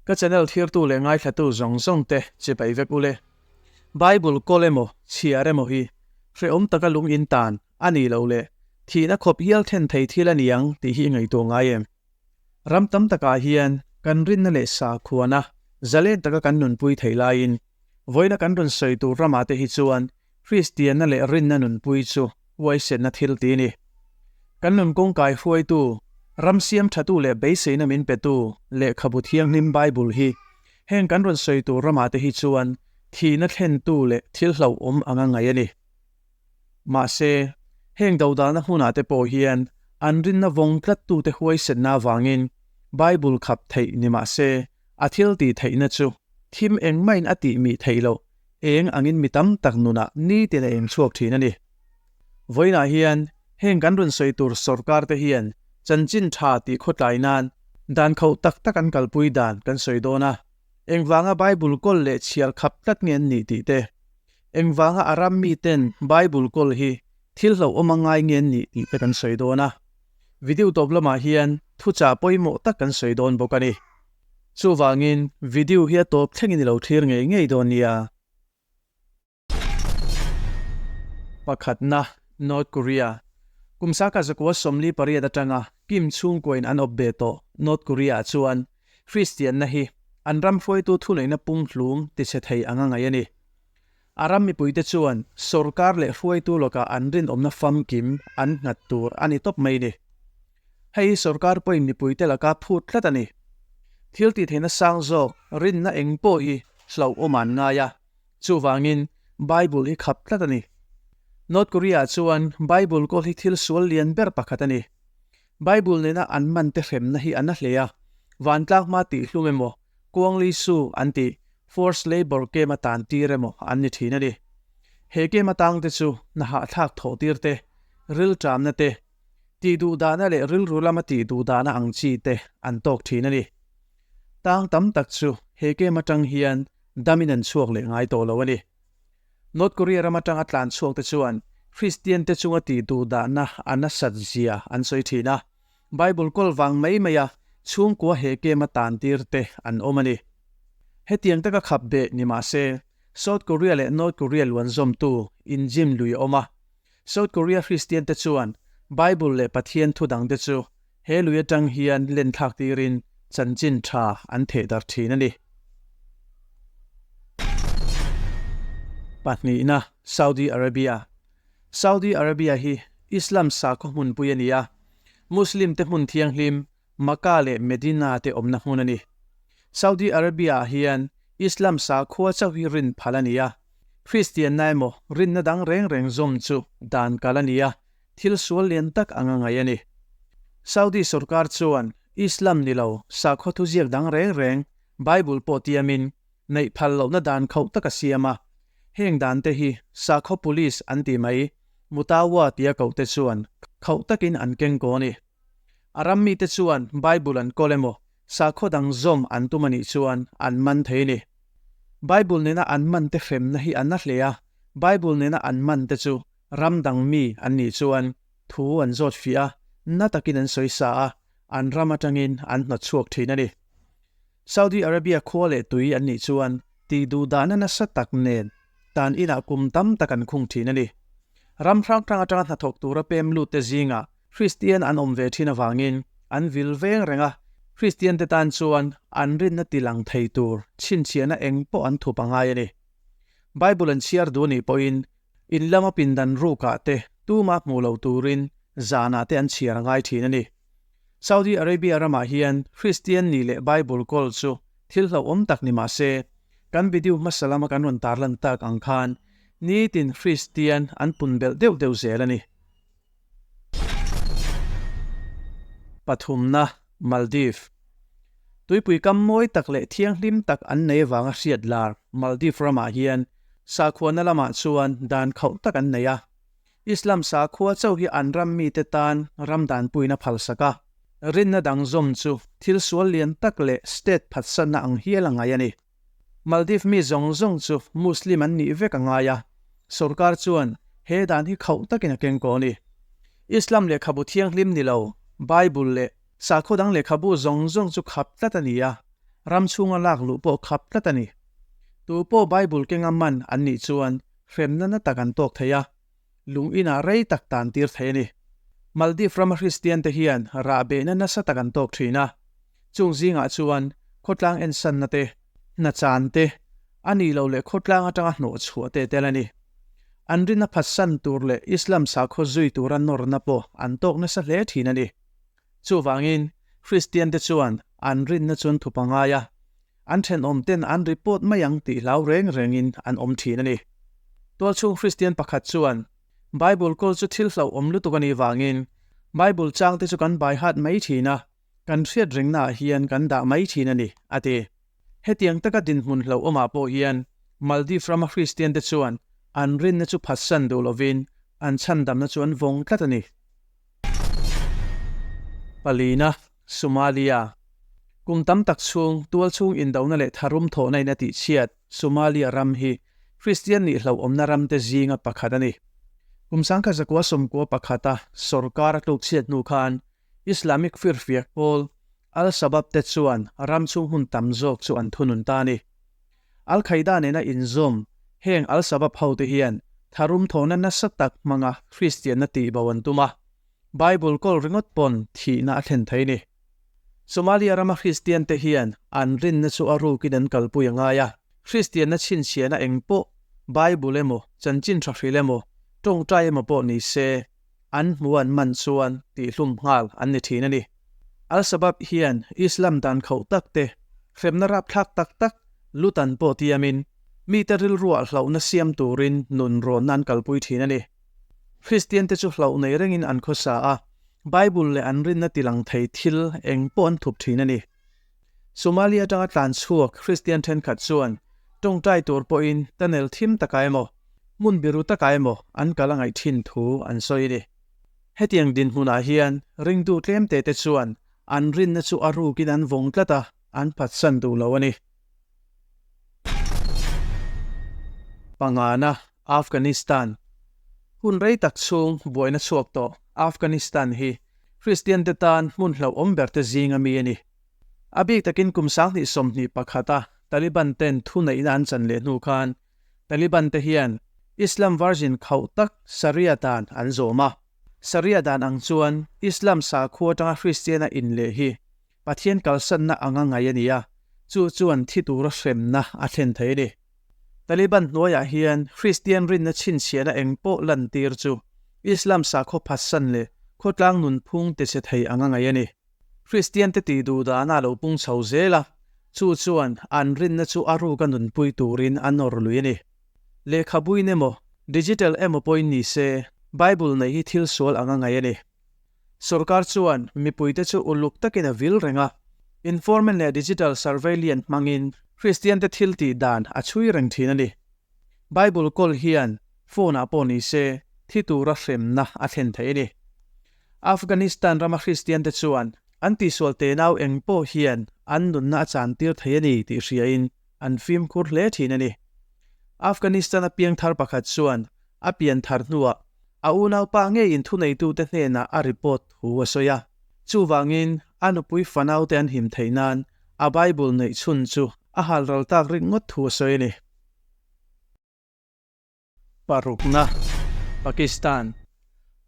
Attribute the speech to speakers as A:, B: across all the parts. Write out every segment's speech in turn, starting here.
A: Ka channel thirtu leh ngaithlatu zawng zawng te chibai vek ule. Bible kawl emaw chhiar emaw hi hrehawm taka lungin tan a nih loh leh thihna khawp hial then thei thil a niang tih hi i ngaihtuah ngai em? Ram tam takah hian kan rinna leh sakhuana zalen taka kan nunpui thei laiin Vawina kan rawn sawi tur rama te hi chuan Kristianna leh rinna nunpui chu huaisenna thil ti ni. Kan nun kawngkai hruaitu, ram siamthatu leh beiseina min petu lehkhabu thianghlim Bible hi heng kan rawn sawi tur rama te hi chuan thihna thlentu leh thilhlauhawm anga ngaih a ni. Mahse, heng dodalna hmunah te pawh hian an rinna vawng tlattute huaisenna avangin Bible khap theih ni mah se, a thil tih theihna chu thim eng maiin a tih mih theih loh, eng angin mi tam tak nunah nitin a inchhuak thin a ni. Vawiinah hian heng kan rawn sawi tur sorkar te hian chanchin tha tih khawtlai nan dan khauh tak tak an kalpui dan kan sawi dawn a, engvanga Bible kawl leh chhiar khap tlat nge an nih tih te. Engvanga a ram miten Bible kawl hi thil hlauhawm a ngai nge an nih tih te kan sawi dawn a. Video tawp lamah hian thuchah pawimawh tak kan sawi dawn bawk a ni. Chuvangin video hi a tawp thlengin i lo thlir ngei ngei dawn nia. Pakhatna, North Korea. Kum saka zakua sawmli pariat atanga Kim chhungkuain an awp ve tawh North Korea-ah chuan Kristianna hi an ram hruaitu thuneihna pumhlum tichhe thei anga ngaih a ni. A ram mipuite chuan sorkar leh hruaitu lawkah an rinawmna famkim an nghat tur a ni tawp mai ni. Hei hi sorkar pawhin mipuite laka phut tlat a ni. Thiltihtheihna sang zawk rinna eng pawh hi hlauhawm an ngai a, chuvangin Bible hi khap tlat a ni. North Korea-ah chuan Bible kawl hi thil sual lian ber pakhat a ni. Bible nena an mante hremna hi a na hle a, vantlang hma tih hlum emaw, Kuang Li Su an ti Forced Labour Came a tan tir emaw an ni thin a ni. He came atang te chu na hahthlak thaw tir te, rilṭamna te, tih duh dahna leh rilru lama tih duh dahna ang chi te an tawk thin a ni. Tang tam tak chu he came aṭang hian dam in an chhuak leh ngai tawh lo a ni. North Korea ram aṭang a tlan chhuak te chuan Kristian te chunga tih duh dahna a nasat zia an sawi thin a. Bible kawl vang mai maia chhungkua hehkem a tan tirte an awm a ni. Hetiang taka khap beh ni mah se, South Korea leh North Korea luanzawmtu inzim lui a awm a. South Korea Kristiante chuan Bible leh Pathian thudangte chu he lui atang hian lenthlak tirin chanchin tha an theh dar thin a ni. Pahnihna, Saudi Arabia Saudi Arabia hi Islam sakhaw hmunpui a ni a, Muslimte hmun thianghlim Makkah leh Medina te awmna hmun a ni. Saudi Arabia-ah hian Islam sakhua chauh hi rin phal a ni a, Kristianna emaw rinna dang reng reng zawm chu dan kal a ni a, thil sual lian tak a nga ngai a ni. Saudi sorkar chuan Islam ni lo sakhua thuziak dang reng reng Bible pawh tiamin neih phal lohna dan khauh taka siam a, heng dan te hi sakhaw police an ti mai, Mutawa tia koh te chuan khauh takin an keng kaw a ni. A ram mi te chuan Bible an kawlh emaw sakhaw dang zawm an tum a nih chuan an man thei a ni. Bible nena an man te hremna hi a na hle a, Bible nena an man te chu ram dang mi an nih chuan thu an zawt fiah a, na takin an sawi sa a, an ram atangin an hnawt chhuak thin a ni. Saudi Arabia khua leh tui an nih chuan tih duh dahna nasa tak nen tan inah kum tam tak an khung thin a ni. Ram hrang hrang atanga hnathawk tura pem lutte zingah Hristian an awm ve thin avangin an vil veng reng a, Hristiante tan chuan an rinna ti lang thei tur chhinchhiahna eng pawh an thup a ngai a ni. Bible an chhiar duh anih pawhin in lama pindan rukah te, tuma hmuh lo turin zanah te an chhiar a ngai thin a ni. Saudi Arabia ramah hian Kristian ni leh Bible kawl chu thil hlauhawm tak ni mah se, kan video hmasa lama kan rawn tar lan tak ang khan nitin Kristian an pun belh deuh deuh zel a ni. Pathumna, Maldives. Tuipui kam mawi tak leh thianghlim tak an nei avanga hriat lar Maldives ramah hian sakhuana lamah chuan dan khauh tak an nei a. Islam sakhua chauh hi an ram mite tan ram dan puina phalsak a rinna dang zawm chu thil sual lian tak leh state phatsana ang hial a ngai a ni. Maldives mi zawng zawng chu Muslim an nih vek a ngai a, sorkar chuan he dan hi khauh takin a keng kaw a ni. Islam lehkhabu thianghlim ni lo Bible leh sakhua dang lehkhabu zawng zawng chu khap tlat a ni a, ram chhunga lak luh pawh khap tlat a ni. Tupawh Bible kenga man an nih chuan hrem nana tak an tawk thei a, lung inah rei tak tan tir thei a ni. Maldive rama Hristiante hian rah behna nasa tak an tawk thin a, chung zingah chuan khawtlang en sanna te, hna chan te, a nih loh leh khawtlang atanga hnawh chhuah te tel a ni. An rin a phatsan tur leh Islam sakhaw zui tura nawrna pawh an tawk nasa hle thin a ni. Chuvangin, Kristiante chuan an rinna chuan thu pangai a, an thenawm ten an ri pawt mai ang tih hlau reng rengin an awm thin a ni. Tualchhung Kristian pakhat chuan, Bible kawl chu thil hloh awm lutuk a nih vangin, Bible changte chu kan baihat mai thin a, kan hriatringnah hian kan dah mai thin a ni, a ti. Hetiang taka dinhmun hlo awmah pawh hian Maldives rama Hristiante chuan an rinna chu phatsan duh lovin an chhandamna chu an vawng tlat a ni. Palina, Somalia, Kum tam tak chhung tual chhung indona leh tharum thawhna ina tihchhiat Somalia ram hi Hristian nih hlo awmna ramte zinga pakhat a ni. Kum sangkhat zakua sawmkua pakhata sawrkara tlukchhiat hnu khan Islamic firfiak pawl Al-Shabab te chuan ram chhung hun tam zawk chu an thunun ta a ni. Al-Qaeda nena inzawm heng Al-Shabab hote hian tharum thawhna nasa tak hmanga Kristianna tihbo an tum a, Bible kawl ringawt pawn thihna a thlen thei a ni. Somalia rama Kristian te hian an rinna chu a rukin an kalpui a ngai a, Kristianna chhinchhiahna eng pawh Bible emaw, chanchin thahrilh emaw, tawngtai emaw pawh ni se, an hmu an man chuan tihhlum nghal an ni thin a ni. Al-Shabab hian Islam dan khauh tak te, hremna rapthlak tak tak, lu tan pawh tiamin mite rilruah hlauhna siam turin nun rawnna an kalpui thin a ni. Kristian te chu hlauh nei rengin an khawsa a, Bible leh an rinna tilang thei thil eng pawh an thup thin a ni. Somali atanga tlan chhuak Kristian thenkhat chuan tawng tai tur pawhin tunnel thim taka emaw, hmun biru taka emaw an kal a ngaih thin thu an sawi a ni. Hetiang dinhmunah hian ringdu tlemtete chuan an rinna chu a rukin an vawng tlat a, an phatsan duh lo a ni. Pangnganah Afghanistan, Hun rei tak chhung buaina chhuak tawh Afghanistan hi Kristiante tan hmun hlauhawm berte zinga mi a ni. A bik takin kum sanghnih sawmhnih pakhata Taliban-ten thuneihna an chan leh hnu khan Taliban-te hian Islam varzin khauh tak Sharia dan an zawm a. Sharia dan ang chuan Islam sakhua atanga Kristiana in leh hi Pathian kalsanna anga ngaih a ni a, chu chuan thi tura hremna a thlen thei a ni. Taliban hnuaiah hian Kristian rinna chhinchhiahna eng pawh lantir chu Islam sakhaw phatsan leh khawtlang nunphung te che thei ang a ngaih a ni. Kristiante tih duh dahna a lo pung chho zel a, chu chuan an rinna chu a ruka nunpui turin an nawr lui a ni. Lehkhabuin emaw, digital emaw pawhin ni se, Bible neih hi thil sual ang a ngaih a ni. Sorkar chuan mipuite chu uluk takin a vil reng a, Informant leh Digital Survey lian hmangin Kristiante thiltih dan a chhui reng thin a ni. Bible kawl hian phone-ah pawh nise thi tura hremna a thlen theih a ni. Afghanistan rama Kristiante chuan an tihsual tenau eng pawh hian an nunna a chantir thei a ni tih hriain an fimkhur hle thin a ni. Afghanistan a piangthar pakhat chuan a pian thar hnuah a unaupa ngeiin thuneitute hnenah a report thu a sawi a. Chuvangin a nupui fanaute an him theih nan a Bible neih chhun chu a hal ral tak ringawt thu a sawi a ni. Parukna, Pakistan,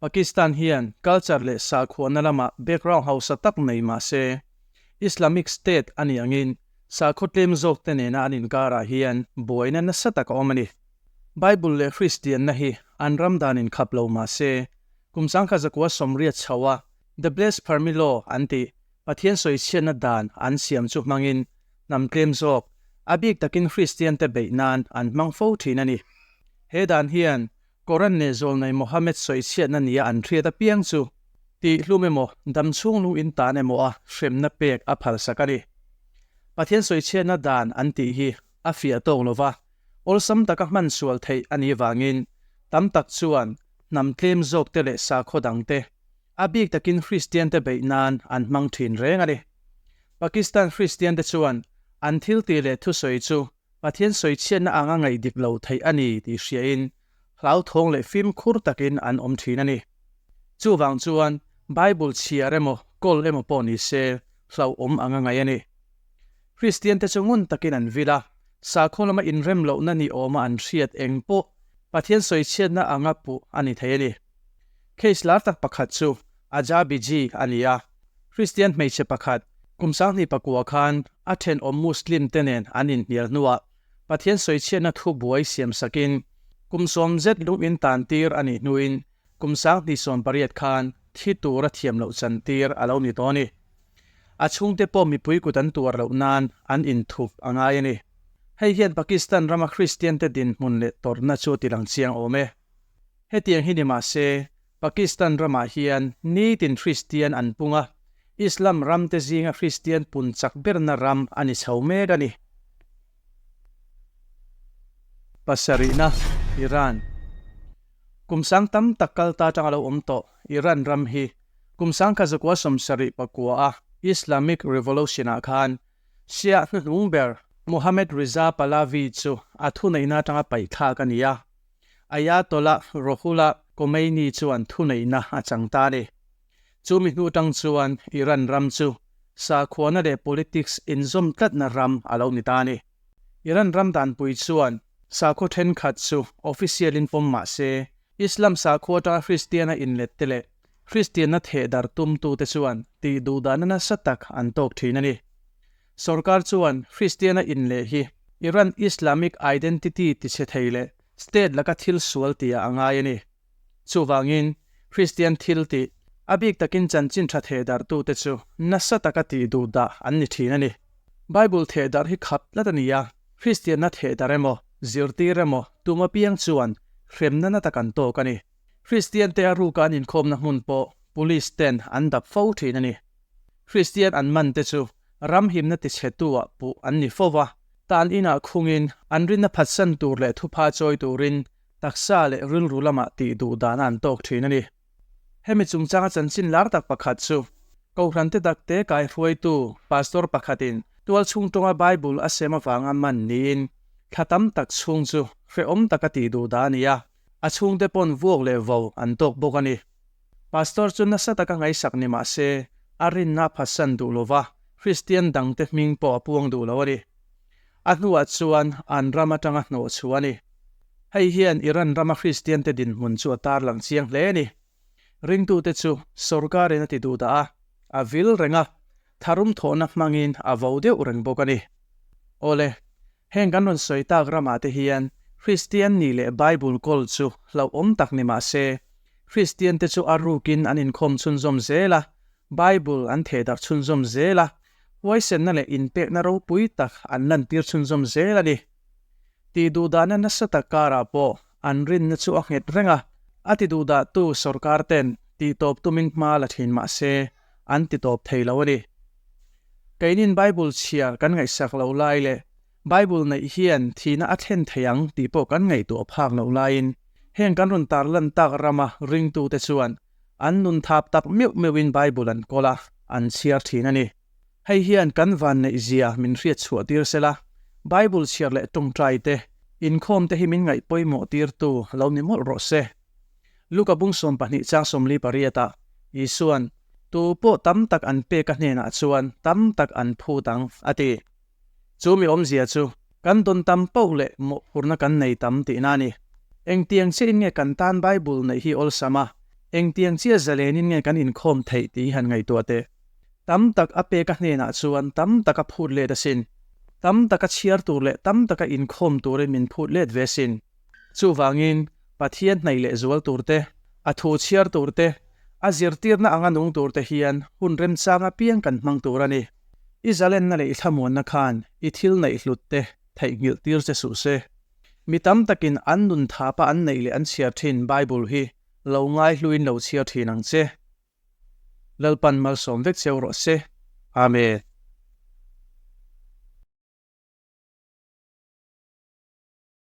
A: Pakistan hian culture leh sakhuana lama background hausa tak nei mah se, Islamic State a ni angin sakhaw tlem zawkte nena an inkarah hian buaina nasa tak a awm a ni. Bible leh Hristianna hi an ram dan inkhap lo mah se, kum sangkhat zakua sawmriat chhoa The Blessed Permi Law an tih Pathian sawichhiatna dan an siam chu hmangin hnam tlem zawk a bik takin Kristiante beih nan an hmang fo thin a ni. He dan hian Koran leh zawlnei Mohammed sawichhiatna nia an hriat apiang chu tih hlum emaw dam chhung lung in tan emaw a hremna pek a phalsak a ni. Pathian sawichhiatna dan an tih hi a fiah tawk lo va, awlsam taka hman sual theih a nih vangin tam tak chuan hnam tlem zawkte leh sakhaw dangte A bik takin Kristiante beih nan an hmang thin reng a ni. Pakistan Kristiante chuan an thil tih leh thusawi chu Pathian sawichhiatna ang a ngaih dik lo theih a ni tih hriain hlauthawng leh fimkhur takin an awm thin a ni. Chuvang chuan Bible chhiar emaw kawl emaw pawh ni se hlauhawm ang a ngaih a ni. Kristiante chu ngun takin an vil a, sakhaw lama inrem lohna ni awma an hriat eng pawh Pathian sawichhiatna anga puh a ni thei a ni. Case lar tak pakhat chu Aja Biji a ni a, Kristian hmeichhe pakhat kum sanghnih pakua khan a thenawm Muslim te nen an inhnial hnuah Pathian sawichhiatna thu buai siam sakin kum sawm zet lungin tan tir a nih hnuin kum sanghnih sawm pariat khan thi tur a thiam loh chan tir a lo ni dawn i a chhungte pawh mipui kut an tuar loh nan an inthu a ngai a ni. Hei hian Pakistan rama Kristian te dinhmun leh tawrhna chu tilang chiang awm e. Hetiang hi ni mah se, Pakistan ramah hian nitin Hristian an pung a, Islam ramte zinga Hristian pun chak berna ram a ni chho mek a ni. Pasarihna, Iran. Kum sang tam tak kal ta atang a lo awm tawh Iran ram hi kum sang kha zakua sawm sarih pakua a Islamic Revolution ah khan Shia hnuhnung ber Mohammad Reza Pahlavi chu a thuneihna atanga paihthlak a ni a. Ayatollah Rohullah Khomeini chuan thuneihna a chang ta ni. Chumi hnu tang chuan Iran ram chu sakhuana leh politics inzawm tlatna ram a lo ni ta ni. Iran ram danpui chuan sakhaw thenkhat chu official in pawm mah se, Islam sakhua atanga Hristiana inlet te leh Hristianna theh dar tum tute chuan tih duh dahna nasa tak an tawk thin a ni. Sorkar chuan Kristiana in leh hi Iran Islamic Identity tichhe thei leh state laka thil sual tia a ngai a ni. Chuvangin Kristian thil tih a bik takin chanchin tha thehdarhtute chu nasa taka tih duh dah an ni thin a ni. Bible thehdarh hi khap tlat a ni a, Kristianna thehdarh emaw, zirtir emaw tum apiang chuan hremnana ta kan tawk a ni. Kristiante a ruka an inkhawmna hmun pawh police ten an dap fo thin a ni. Kristian an man te chu ram himna tichhetu ah puh an ni fo a, tan in ah khung in an rinna phatsan tur leh thupha chawi tur in taksa leh rilru lam ah tih duh dan a an tawk thin a ni. Hemi chungchang a chanchin lar tak pakhat chu Kohhran te dak te kai hruai tu Pastor pakhat in tual chhung tawng a Bible a sem avang a man ni in thla tam tak chhung chu hrehawm tak a tih duh dan a ni a, A chhungte pawn vuak leh vo an tawk bawk a ni. Pastor chu nasa taka ngaisak ni mah se, a rinna a phatsan duh lova, Kristian dangte hming pawh a puang duh lo a ni. A hnuah chuan an ram atanga hnawh chhu a ni. Hei hian Iran rama Kristiante dinhmun chu a tarlang chiang hle a ni. Ringtute chu sorkarin a ti duhdah a, a vil reng a, tharum thawhna hmangin a vo deuh reng bawk a ni. Awle. Heng kan rawn sawi tak ramah te hian Kristian nih leh Bible kawl chu hlauhawm tak ni mah se, Kristian te chu a rukin an inkhawm chhunzawm zel a, Bible an thehdarh chhunzawm zel a, huaisenna leh inpekna ropui tak an lantir chhunzawm zel a ni. Tih duhdahna nasa tak karah pawh an rinna chu a nghet reng a, a ti duhdahtu sorkar ten tih tawp tumin hma la thin mah se, an ti tawp thei lo a ni. Keinin Bible chhiar kan ngaihsak loh lai leh Bible neih hian thihna a thlen thei ang tih pawh kan ngaihtuah phak loh laiin, heng kan rawn tar lantak rama ringtute chuan an nun thap tak meuh meuhin Bible an kawl a, an chhiar thin a ni. Hei hian kan vanneih zia min hriat chhuah tir se la, Bible chhiar leh tawngtaite, inkhawmte hi min ngaihpawimawhtirtu lo ni mawlh rawh se. Luka bung sawm pahnih chang sawmli pariatah Jesuan tu pawh tam tak an pek a hnenah chuan tam tak an phut ang a ti. Chu mi awmzia chu kan dawn tam pauh leh mawhphurhna kan nei tam tihna a ni. Engtiang chiahin nge kan tan Bible neih hi awlsam a, engtiang chia zalenin nge kan inkhawm theih tih hi han ngaihtuah teh. Tam tak a pek a hnenah chuan tam tak a phut let asin. Tam tak a chhiar tur leh tam tak a inkhawm turin min phut let ve asin. Chuvangin, Pathian hnaih leh zual turte, a thu chhiar turte, a zirtirna anga nung turte hian hun remchang apiang kan hmang tur a ni. I zalenna leh i thlamuanna khan i thil neih hlutte theihnghilh tir che suh se. Mi tam takin an nun thapa an neih leh an chhiar thin Bible hi lo ngaihluin lo chhiar thin ang che. Lalpan malsawm vek cheu rawh se. Amen.